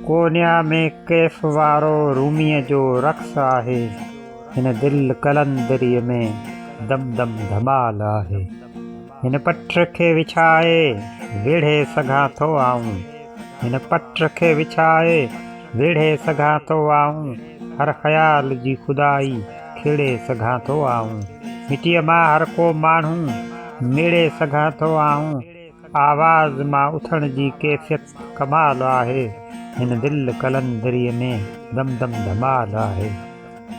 Konya ۾ ڪيف وارو روميء جو رقص آهي، هن دل قلندريء ۾ دم دم ڌمال آهي. هن پٽ کي وڇائي ويڙهي سگهان ٿو آئون، هن پٽ کي وڇائي ويڙهي سگهان ٿو آئون، هر خيال جي خدائي کيڙي سگهان ٿو آئون، مٽيء مان هر ڪو ماڻهو ميڙي سگهان ٿو آئون، آواز مان اٿڻ جي ڪيفيت ڪمال آهي هن دل قلندري ۾ دم دم ڌمال آهي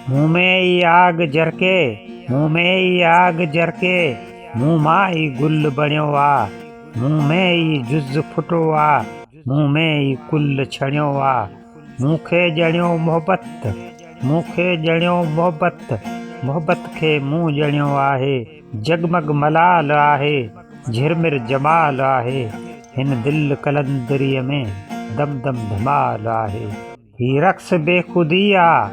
مون ۾ ئي آگ جرڪي مون ۾ ئي آگ جرڪي مون مان ئي گل بڻيو آ مون ۾ ئي جز ڦٽو آ مون ۾ ئي ڪل ڇڻيو آ مون کي ڄڻيو محبت مون کي ڄڻيو محبت محبت کي مون ڄڻيو آهي جڳمڳ ملال آهي، جهرمر جمال آهي، هن دل قلندريء ۾، دم دم ڌمال آهي. هي رقص بيخودي آ،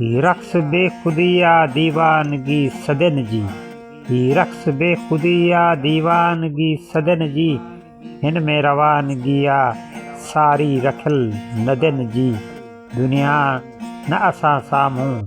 هي رقص بيخودي آ، ديوانگي صدين جي، هي رقص بيخودي آ، ديوانگي صدين جي، هن ۾ روانگي آ، ساري رکيل ندين جي، دنيا نه اسان سامهون،